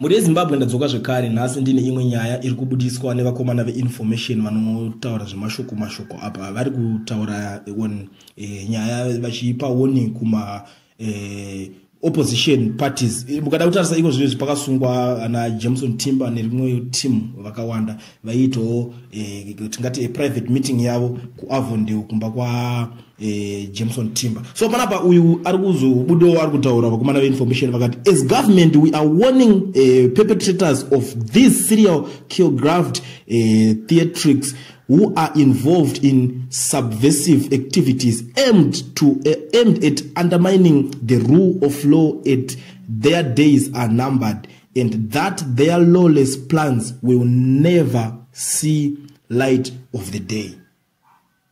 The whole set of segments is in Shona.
Mhuri yeZimbabwe ndadzoka zvekare nhasi ndine imwe nyaya iri kubudiswa nevakomana veinformation vanotaura zvemashoko mashoko apa vari kutaura on e, nyaya vachiipa warning kuma e, opposition parties mukada kutarisa iko zvinezvi pakasungwa ana jameson timber nerimwe team vakawanda vaiitawo eh, tingati eh, private meeting yavo kuavondale kumba kwajameson eh, timber so panapa uyu ari kuzobudawo ari kutaura vakomana veinformation vakati as government we are warning uh, perpetrators of these serial killgraphed uh, theatrics who are involved in subversive activities aimed, to, uh, aimed at undermining the rule of law at their days are numbered and that their lawless plans will never see light of the day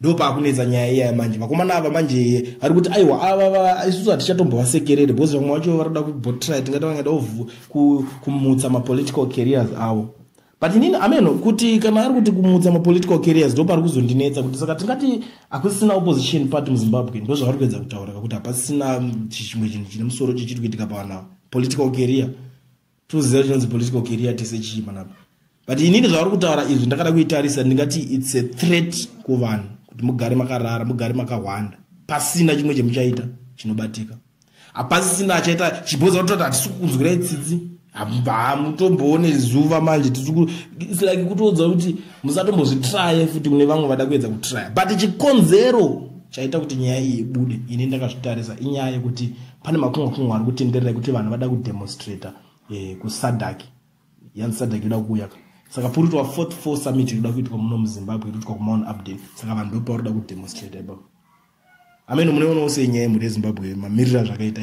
ndopaakunetsa nyaya iya manje vakomana ava manje ari kuti aiwa ava isusu hatichatombovasekerere because vamwe vacho varoda kubotry tingati vangada kumutsa mapolitical carriers avo but inini ameno kuti kana ari kuti kumutsa mapolitical carriers ndo pari kuzondinetsa kuti saka tingati hakusisina opposition party muzimbabwe ndo zvavari kuedza kutaura kuti hapasisina mm, chimwe chinhu chine musoro chichiri kuitika pavana political carrier toziva chinonzi political carrier tese chii panapa but inini zvavari kutaura izvi ndakada kuitarisa ndingati its a threat kuvanhu kuti mugare makarara mugare makahwanda pasina chimwe chemuchaita chinobatika hapasisina achaita chibhoza kutoti hatisi kukunzwirai tsitsi hamutomboone zuva manje its like kutoudza kuti musatombozvitraye futi mune vamwe vada kuedza kutraya but chikonzero chaita kuti nyaya iyi ibude ini ndakazvitarisa inyaya yekuti pane makungwa kungwa ari kutenderera yekuti vanhu vada kudemonstrata eh, kusadaki yanzi sadhaki yoda kuuya ka saka poritwa fourth four summit inoda kuitwa muno muzimbabwe inoitwa kumount upden saka vanhu ndopauri da kudemonstrate ipapo ameno munoona usenyaya yemhuri yezimbabwe mamirira zvakaita